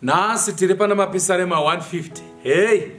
nhasi tiri pana mapisarema 150 hei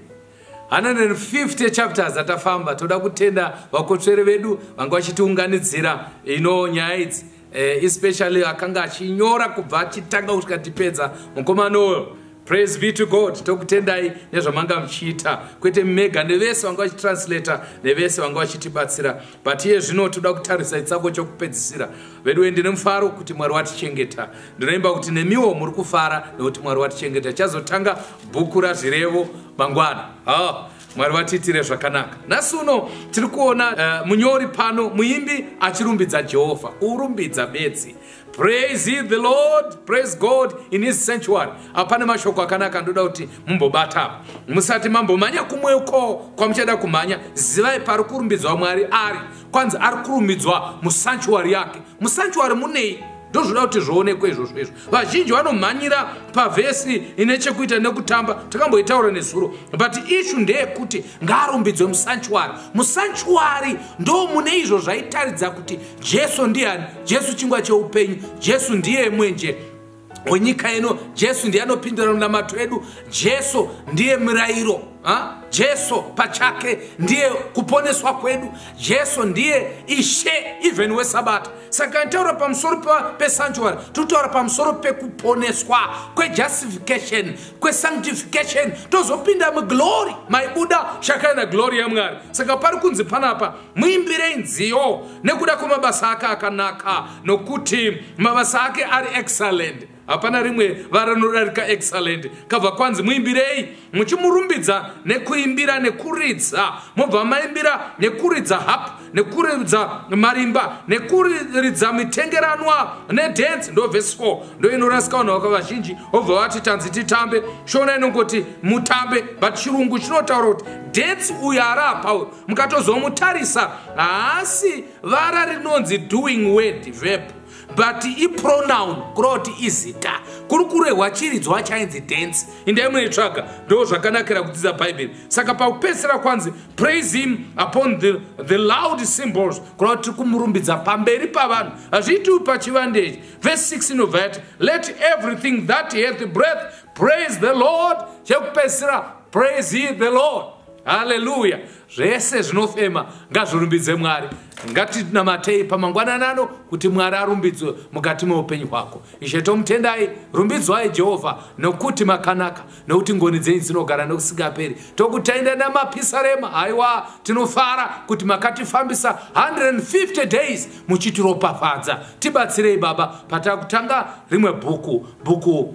150 chapters atafamba toda kutenda vakotsveri vedu vanga vachitiunganidzira ino nyaya idzi eh, especially akanga achinyora kubva achitanga kusvika tipedza mukomana uyo praise be to god tokutendai nezvamanga muchiita kwete mega nevese vanga vachitranslata nevese vanga vachitibatsira but iye zvino toda kutarisa itsako chokupedzisira veduwe ndine mufaro kuti mwari watichengeta Ndinoimba kuti nemiwo muri kufara nekuti Mwari watichengeta. Chazotanga bhuku razvirevo mangwana. Oh. Mwari vatiitire zvakanaka. Nhasi uno tiri kuona uh, munyori pano muimbi achirumbidza Jehovha, kurumbidza bedzi. Praise ye the Lord, praise God in his sanctuary. Apane mashoko akanaka ndoda kuti mumbobata apa. Musati mambomanya kumwe uko kwamuchada kumhanya, zivai pari kurumbidzwa Mwari ari. Kwanzi ari kurumbidzwa musanctuary yake. musanctuary munei ndozvoda kuti zvoonekwa izvozvo izvo vazhinji vanomhanyira pavhesi ine chekuita nekutamba takamboitaura nezuro but ishu ndeyekuti ngaarumbidzwe musanchuari musanchuari ndo mune izvo zvaitaridza kuti jesu ndiani jesu chingwa cheupenyu jesu ndiye mwenje wenyika ino jesu ndiye anopindura munamato edu jesu ndiye murayiro ha? jesu pachake ndiye kuponeswa kwedu jesu ndiye ishe even wesabata saka nitaura pamusoro pesanctuary totaura pamusoro pekuponeswa kwejustification kwesanctification tozopinda muglory maibuda shakana glory yamwari saka pari kunzi panapa muimbirei nziyo nekuda kwemabasa ake akanaka nokuti mabasa ake ari excellent hapana rimwe vara rinodarika excellent kabva kwanzi muimbirei muchimurumbidza nekuimbira nekuridza mobva maimbira nekuridza hap nekuridza marimba nekuridza mitengeranwa nedance ndovhesi 4 ndoinorasika vanhu vaka vazhinji obva vati tanzi titambe shona inongoti mutambe but chirungu chinotaura kuti dance uyo ari apa mukatozomutarisa haasi vara rinonzi doing word verb but ipronoun kuroti izita kuri kurehwa chiridzwa chainzi dance indai munoitsvaga ndo zvakanakira kudzidza bhaibheri saka pakupedzisira kwanzi praise him upon the, the loud symbols kureva kuti tiri kumurumbidza pamberi pavanhu hazviitiwi pachivande ichi vese 6 inobva yati let everything that hath breath praise the lord chekupedzisira praise ye the lord haleluya zvese zvinofema ngazvirumbidze mwari ngatinamatei pamangwanani ano kuti mwari arumbidzwe mukati meupenyu hwako ishe tomutendai rumbidzwai jehovha nokuti makanaka nokuti ngoni dzenyu dzinogara nokusingaperi tokutenda namapisarema haiwa tinofara kuti makatifambisa 150 days muchitiropafadza tibatsirei baba patakutanga rimwe bhuku bhuku